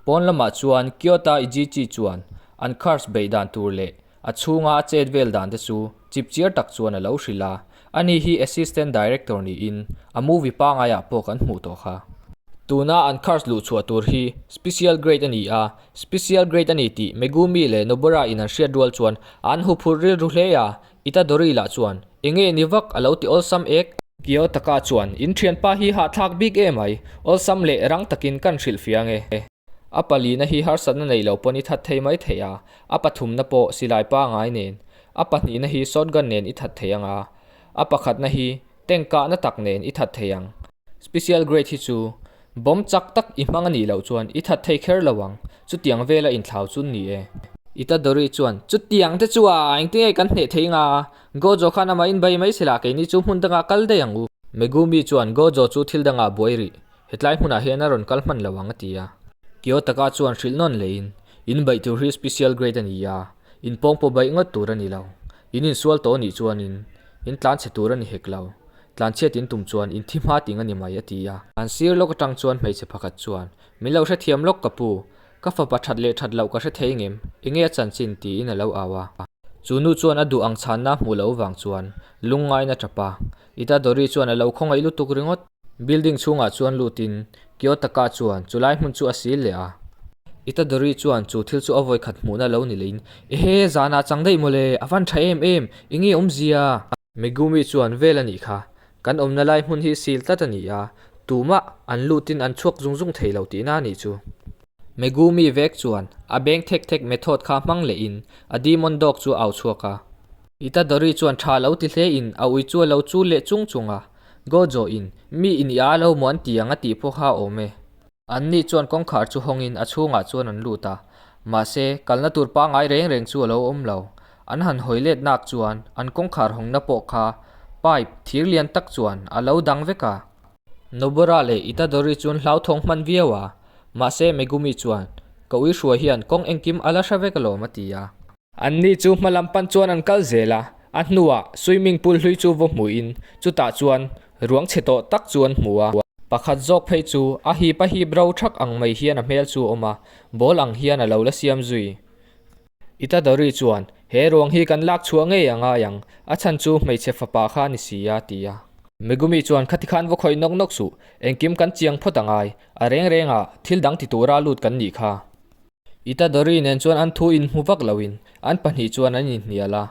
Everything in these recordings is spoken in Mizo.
Pawn lamah chuan Kyoto Ijichi chuan an cars beih dan tur leh a chhunga a chet vel dan te chu chip chiar tak chuan a lo hrilh a, ani hi Assistant Director niin a movie pangai ah pawh kan hmuh tawh kha. Tuna an cars luh chhuah tur hi Special Grade a ni a, Special grade a ni tih Megumi leh Nobara in an hriat rual chuan an hu phurh rilru hle a, Itadori lah chuan e nge ni vak a lo ti awlsam ek. Kiyotaka chuan in thianpa hi hahthlak bik e mai, awlsam leh rang takin kan hrilh fiang e. A palina hi harsatna neih lo pawhin i that thei mai thei a, a pathumna pawh silai pangai nen, a pahnihna hi shotgun nen i that thei ang a, a pakhatna hi Tank kahna tak nen i that thei ang. Special grade hi chu bomb chak tak i hmang a nih loh chuan i that thei kher lo ang. Chutiang vel a inthlau chu ni e. Itadori chuan, Chutiang te chu a eng tinge kan hneh thei nga a, Gojo khan ama in bai mai se lah keini chu hmun dangah kal daih ang u. Megumi chuan, Gojo chu thil dangah buai rih, hetlai hmunah hian a rawn kal hman lo ang a ti a. Kiyotaka chuan hrilh nawn leiin, In baih tur hi special grade a ni a, in pawng pawh baih ngawt tur a ni lo. In insual tawh a nih chuan in, In tlan chhe tur a ni hek lo. Tlan chhiat in tum chuan in thi hma ting a ni mai, a ti a. An sir lawk atang chuan hmeichhe pakhat chuan, Min lo hrethiam lawk ka pu. Ka fapa that leh that loh ka hre thei ngem. Enge a chanchin? tiin a lo au a. Chu nu chuan a duh ang chhanna hmuh loh vang chuan lungngaina tap a. Ita Dori chuan a lo khawngaih lutuk ringawt. Building chhungah chuan lut in Kiyotaka chuan chu lai hmun chu a sil leh a. Itadori chuan chu thil chu a vawi khat hmuhna lo ni leiin, Ehe, zan ah chang daih maw le, a van tha em em, i nge awmzia? Megumi chuan vel a nih kha, kan awmna lai hmun hi sil tlat a ni a, tumah an lut in an chhuak zung zung thei lo tih na nih chu. Megumi vek chuan a beng thek thek method kha hmang leh in a demon dog chu a au chhuak a. Itadori chuan tha lo ti hle in a uichua lo chul leh chung chung a. Go zawh in, mi i nih a lo maw an ti ang a tih pawh kha awm e. An ni chuan kawngkhar chu hawng in a chhungah chuan an lut a, mahse, kalna tur pangngai reng reng chu a lo awm lo. An han hawi let nak chuan an kawngkhar hawng na pawh kha pipe thir lian tak chuan a lo dang vek a. Nobora leh Itadori chuan hlauthawng hman viau a, mahse, Megumi chuan, Ka uihruai hian kawng engkim a la hre vek alawm a ti a. Anni chu hma lam pan chuan an kal zel a, a hnuah swimming pool hlui chu vaw hmuhin chutah chuan ruang chhe tawh tak chu an hmu a. Pakhat zawk phei chu a hip a hip ro thak ang mai hian a hmel chu a awm a, ball ang hian a lo la siam zui. Itadori chuan, He ruang hi kan lak chhuah ngei a ngai ang, a chhan chu hmeichhe fapa kha ni si a, ti a. Megumi chuan, Khati khan vaw khawih nawk nawk suh, engkim kan chiang phawt a ngai, a reng rengah thil dang ti tura lut kan nih kha. Ita Dori nen chuan an thu inhmu vak loin an pahnih chuan an inhnial a.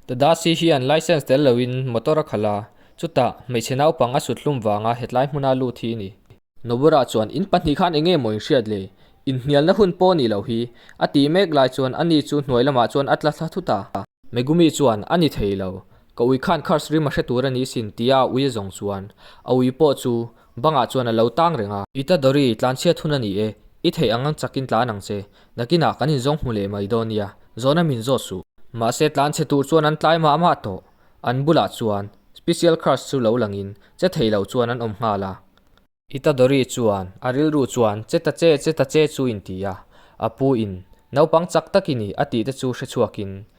Tadasi hian licence tel loin motor a khalh a, chutah hmeichhe naupang a suthlum vanga hetlai hmuna lut hi a ni. Nobura chuan in pahnih khan enge maw in hriat le, inhnialna hun pawh ni lo hi, a tih mek lai chuan ani chu hnuai lamah chuan a tla thla thut a. Megumi chuan a ni thei lo, ka ui khan Kharsri ma hre tur a ni sin tia ui a zawng chuan a ui pawh chu Bangah chuan a lo tang reng a. I ta Dory, tlanchhiat hun a ni e. I theih ang ang chakin tlan ang che. Nakinah kan inzawng hmu leh mai dawn nia. Zawn a min zawt suh. Mahse, tlanchhe tur chuan an tlai mah mah tawh. An bulah chuan Special Crush chu lo langin, che thei loh chuan an awm nghal a. I ta Dory chuan a rilru chuan che ta che, che ta che chu inti a. A pu in, Naupang chak tak i ni, a tihte chu hre chhuakin,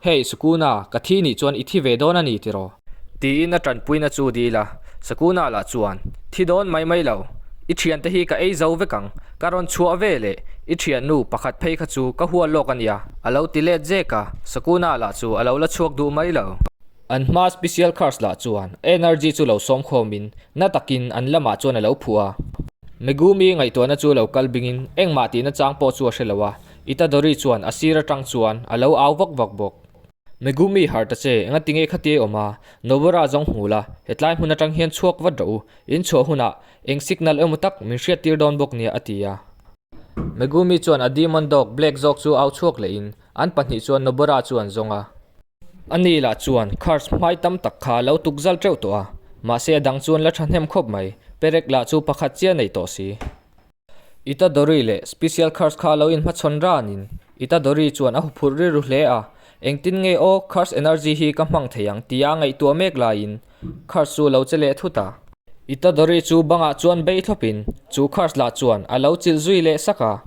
Hey, Sukuna, ka thi nih chuan i thi ve dawn a ni tiraw? Tiin a tanpuin a chu dil a. Sukuna lah chuan, Thi dawn mai mai lo. I thian te hi ka ei zo vek ang. Ka rawn chhuah ve le. I thian nu pakhat phei kha chu ka hual lawk a nia, a lo ti let zek a. Sukuna lah chu a lo la chhuak duh mai lo. An hma special cars lah chuan energy chu lo sawm khawm in na takin an lamah chuan a lo phuh a. Megumi ngaihtuahna chu lo kal bingin engmah tihna chang pawh chu a hre lo a, Itadori chuan a sir atang chuan a lo au vak vak bawk. Megumi harh ta che, enga tinge khati a awm a, Nobara zawng hmu la, hetlai hmun atang hian chhuak vat rawh u, in chhuah hunah eng signal emaw tak min hriat tir dawn bawk nia, a ti a. Megumi chuan a demon dog Black zawk chu au chhuak leh in an pahnih chuan Nobara chu an zawng a. A ni lah chuan curse hmai tam tak kha a lo tuk zal teuh tawh a, mahse a dang chuan la thahnem khawp mai, Perek lah chu pakhat chiah nei tawh si. Itadori leh Special Curse kha lo in hmachhawn ran in Itadori chuan a huphurh rilru hle a, engtin nge aw Curse Energy hi ka hmang thei ang tia ngaihtuah mek lai in Curse chu lo che leh thut a. Itadori chu bangah chuan bei thlawp in chu Curse lah chuan a lo chilh zui leh sak a.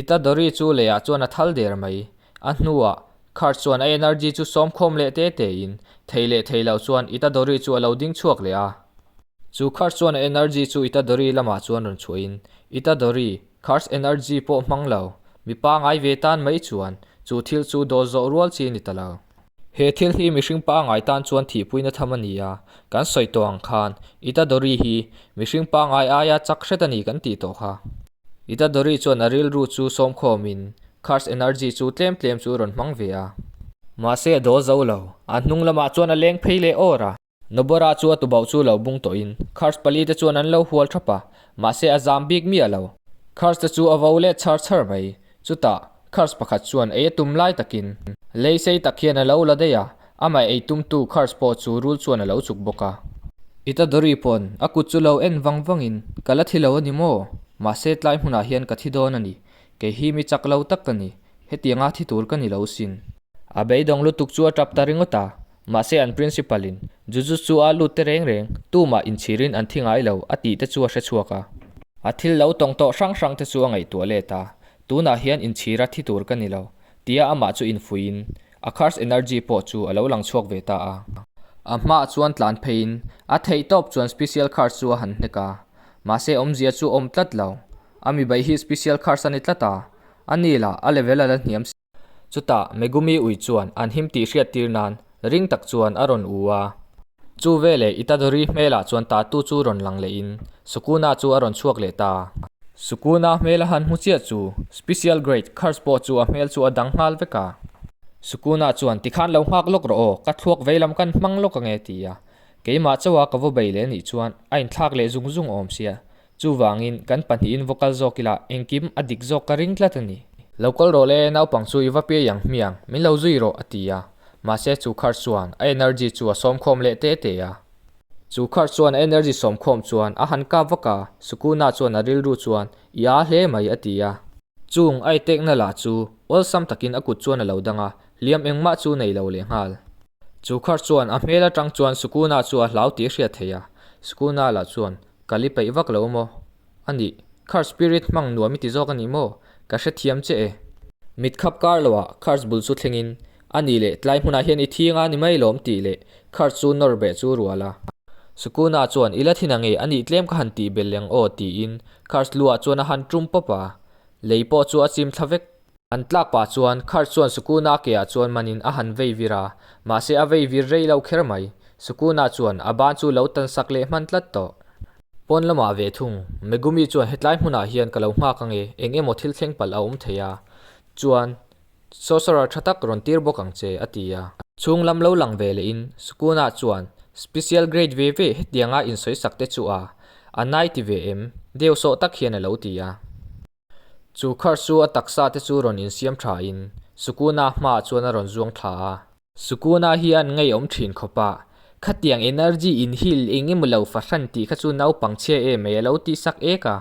Itadori chu leiah chuan a thal der mai, a hnuah Curse chuan a Energy chu sawmkhawm leh te te in thei leh thei lo chuan Itadori chu a lo ding chhuak leh a. Chu Khars chuan energy chu Itadori lamah chuan rawn chhuahin, Itadori, Khars energy pawh hmang lo, mi pangai ve tan mai chuan chu thil chu dawl zawh rual chi ni ta lo. He thil hi mihring pangai tan chuan thihpuina tham a ni a, kan sawi tawh ang khan Itadori hi mihring pangai aia chak hret a ni kan tih tawh kha. Itadori chuan a rilru chu sawmkhawmin Khars energy chu tlem tlem chu rawn hmang ve a. Mahse a dawl zo lo, a hnung lamah chuan a leng phei leh awr a. Nobora chu a tubauh chu lo bung tawhin Khars pali te chuan an lo hual thap a, mahse a zam bik miah lo. Khars te chu a vo let chhar chhar mai. Chutah, Khars pakhat chuan ei a tum lai takin lei sei tak hian a lo la daih a, amah ei tumtu Khars pawh chu rul chuan a lo chuk bawk a. I tadawri pawn, a kut chu lo en vang vangin, Ka la thi lo a ni maw? Mahse tlai hmunah hian ka thi dawn a ni. Kei hi mi chak lo tak ka ni. Hetianga thi tur ka ni lo sin. A beidawng lutuk chu a tap ta ringawt a, Mahse an principal-in Jujutsu a lut te reng reng, tumah inchhirin an thi ngai lo a tihte chu a hre chhuak a. A thil lo tawng tawh hrang hrang te chu a ngaihtuah let a, tunah hian inchhira thi tur ka ni lo, tia amah chu infuiin a curse energy pawh chu a lo lang chhuak ve ta a. A hmaah chuan tlan pheiin a theih tawp chuan special curse chu a han hnek a, mahse awmzia chu a awm tlat lo, a mibai hi special curse a ni tlat a, a nila a level a la hniam si. Chutah Megumi ui chuan an him tih hriat tir nan ring tak chuan a rawn u a. Chu veleh Itadori hmelah chuan tatu chu rawn lang leh in Sukuna chu a rawn chhuak leh ta. Sukuna hmela han hmu chiah chu Special Grade Curse pawh chu a hmel chu a dang nghal vek a. Sukuna chuan tikhan lo nghak lawk rawh aw, ka thluak veilam kan hmang lawk ange ti a. Keimah chauha ka vaw bei leh nih chuan a inthlak leh zung zung awm sia. Chuvangin kan pahnihin vocal zawk ila engkim a dik zawk ka ring tlat a ni. Lo kawl rawh le, naupang chu i va piai ang hmiang, min lo zui rawh, a ti a. Mahse chu kharh chuan a energy chu a sawm khawm leh te te a. Chu kharh chuan a energy sawm khawm chuan a han kap vak a, Sukuna chuan a rilru chuan, I aa hle mai, a ti a. Chung a etekna lah chu awlsam takin a kut chuan a lo dang a, hliam engmah chu nei lo leh nghal. Chu kharh chuan a hmel atang chuan Sukuna chu a hlau tih a hriat theih a, Sukuna lah chuan Ka li peih vak lo maw? A nih. Khar spirit hmang nuam i ti zawk a nih maw? Ka hrethiam che e. Mit khap kar lo a Khar bul chu thlengin, A nih leh, tlai hmunah hian i thing a ni mai lawm tih leh Khar chu nawrbeh chu rual a. Sukuna chuan, I la thin ange, a nih tlem ka han tih beleng aw tiin Khar lu ah chuan a han tum pawp a, lei pawh chu a chim thla vek. An tlak pah chuan Kurt chuan Sukuna ke ah chuan manin a han vei vir a, mahse a vei vir rei lo kher mai. Sukuna chuan a ban chu lo tan sak leh hman tlat tawh. Pawn lamah ve thung, Megumi chuan hetlai hmunah hian ka lo nghak ange, eng emaw thil thleng palh a awm thei a, chuan Sorcerer tha tak rawn tir bawk ang che, a ti a. Chhung lam lo lang ve leh in Sukuna chuan Special grade ve ve hetianga insawi sak te chu a, a nai ti ve em, deu sawh tak hian a lo ti a. Chu kharh chu a taksa te chu rawn insiam tha in Sukuna hma ah chuan a rawn zuang thla a. Sukuna hian ngaihawm thin khawp a, khatiang energy inhil eng emaw lo fahran tih kha chu naupang chhia em mai a lo tih sak ek a.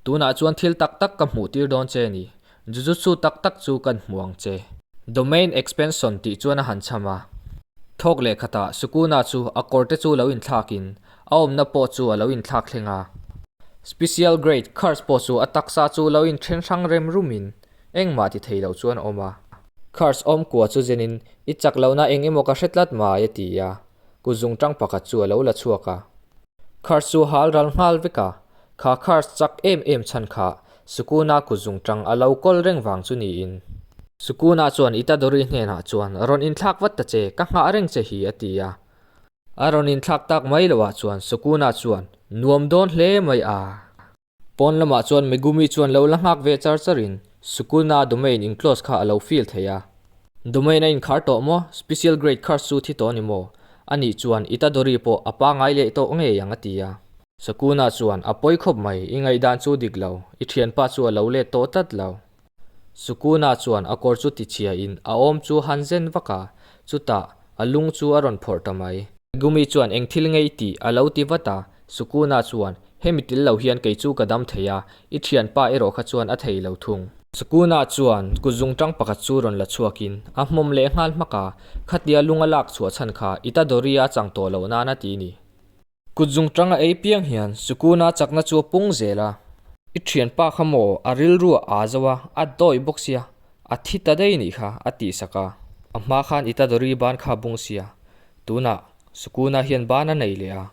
Tunah chuan thil tak tak ka hmuh tir dawn che ni, jujutsu tak tak chu kan hmu ang che. Domain expansion tih chuan a han chham a. Thawk leh khatah Sukuna chu a kawr te chu lo inthlak in A awmna pawh chu a lo inthlak thleng a. Special grade course pawh chu a taksa chu lo inthen hrang rem rum in engmah ti thei lo chuan a awm a. Course awm kua chu zen in i chak lo na eng emaw ka hre tlat mai a ti a ku zung tang pakhat chu a lo la chhuak a. Course chu hal ral nghal vek a, kha course chak em em chhan kha sukun a ku zung tang a lo kawl reng vang chu ni in. Sukun ah chuan i ta Dory hnenah chuan rawn inthlak vat ta che ka nghah reng che hi a ti a. A rawn inthlak tak mai lo ah chuan Sukuna chuan, Nuam dawn hle mai a. Pawn lamah chuan Megumi chuan lo la nghak ve char char in Sukuna domain in close kha a lo fill thei a. Domain a inkhar tawh maw? Special grade curse chu thi tawh a ni maw? A nih chuan Itadori pawh a pangai leh tawh ngei ang a ti a. Sukuna chuan, A pawi khawp mai, i ngaihdan chu dik lo, i thianpa chu a lo let tawh tlat lo. Sukunah chuan a kawr chu tichhia in a awm chu han zen vak a, chutah a lung chu a rawn phawrh ta mai. Gumi chuan eng thil ngei tih a lo ti vat a, Sukunah chuan hemi tel lo hian kei chu ka dam thei a, i thianpa erawh kha chuan a thei lo thung. Sukunah chuan kut zung tang pakhat chu rawn la chhuak in a hmawm leh nghal hmak a, khatia lung a lak chhuah chhan kha i ta Doria a chang tawh loh nan a ti ni. Kut zungṭang a ei piang hian Sukuna chakna chu a pung zel a. I ṭhianpa kha maw a rilru a aa zo a, a dawih bawk sia, a thi ta daih ni kha a tihsak a. A hma khan Itadori ban kha a bung sia. Tunah Sukuna hian ban a nei leh a.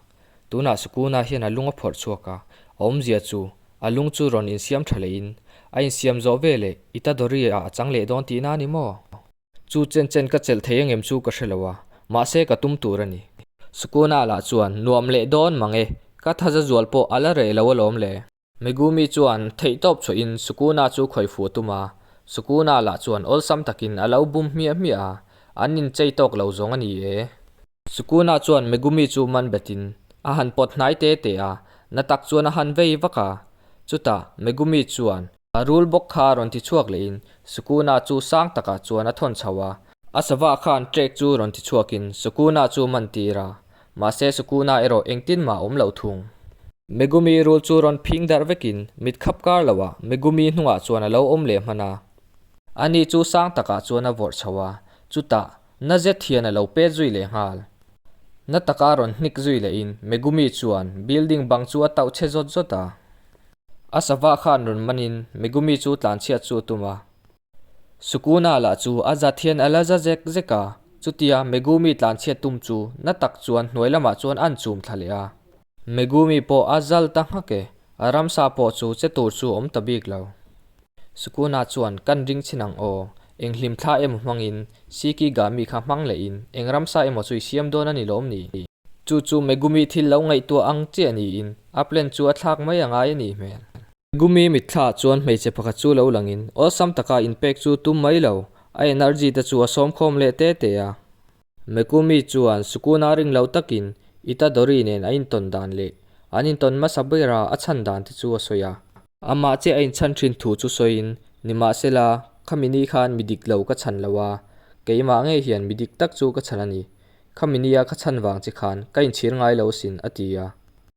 Tunah Sukuna hian a lung a phawrh chhuak a, a awmzia chu a lung chu rawn insiam ṭha lehin a insiam zawh veleh Itadori-ah a chang leh dawn tihna a ni maw? Chu chen chen ka chelh thei angem chu ka hre lo a, mahse ka tum tur a ni. Sukuna lah chuan, Nuam leh dawn mang e, ka thaza zual pawh a la rei lo alawm le. Megumi chuan theih tawp chhuah in Sukuna chu khawi fuh a tum a, Sukuna lah chuan awlsam takin a lo bum hmiah hmiah a, an inchei tawk lo zawng a ni e. Sukunah chuan Megumi chu man betin a han pawt hnai te te a, na tak chuan a han vei vak a. Chutah Megumi chuan. A rul bawk kha rawn ti chhuak lehin Sukuna chu sang takah chuan a thawn chho a. A sava khan Trek chu rawn ti chhuakin Sukuna chu man tir a, mahse Sukuna erawh engtin mah awm loh thung. Megumi rul chu rawn phing darh vekin mit khap kar loha Megumi hnungah chuan a lo awm leh hman a. Ani chu sang takah chuan a vawrh chho a, chutah Na zethian a lo pet zui leh nghal. Na taka rawn hnik zui leh in Megumi chuan building bang chu a tauh che zawt zawt a. A sava khan rawn man in Megumi chu tlanchhiat chu a tum a. Sukuna lah chu a zathian a la za zek zek a, chutia Megumi tlanchhiat tum chu na tak chuan hnuai lamah chuan an chum thla leh a. Megumi pawh a zal ta nghak e. A ramsa pawh chu che tur chu awm ta bik lo. Sukuna chuan, Kan ring chin ang aw. Eng hlim thla emaw hmangin Shikigami kha hmang lehin eng ramsa emaw chu i siam dawn a ni lawm ni? Chu chu Megumi thil lo ngaihtuah ang chiah niin a plan chu a thlak mai a ngai a nih hmel. Megumi mitthla chuan hmeichhe pakhat chu lo langin awlsam taka inpek chu tum mai lo. A energy te chu a sawmkhawm leh te te a. Megumi chuan Sukuna ring lo takin Itadori nen a intawn dan leh an intawn hmasa bera a chhan dan te chu a sawi a. Amah che a inchhan thin thu chu sawiin, Nimahsela, khami ni khan mi dik lo ka chhan lo a, keimah nge hian mi dik tak chu ka chhan a ni. Khami nia ka chhan vang che khan ka inchhir ngai lo sin, a ti a.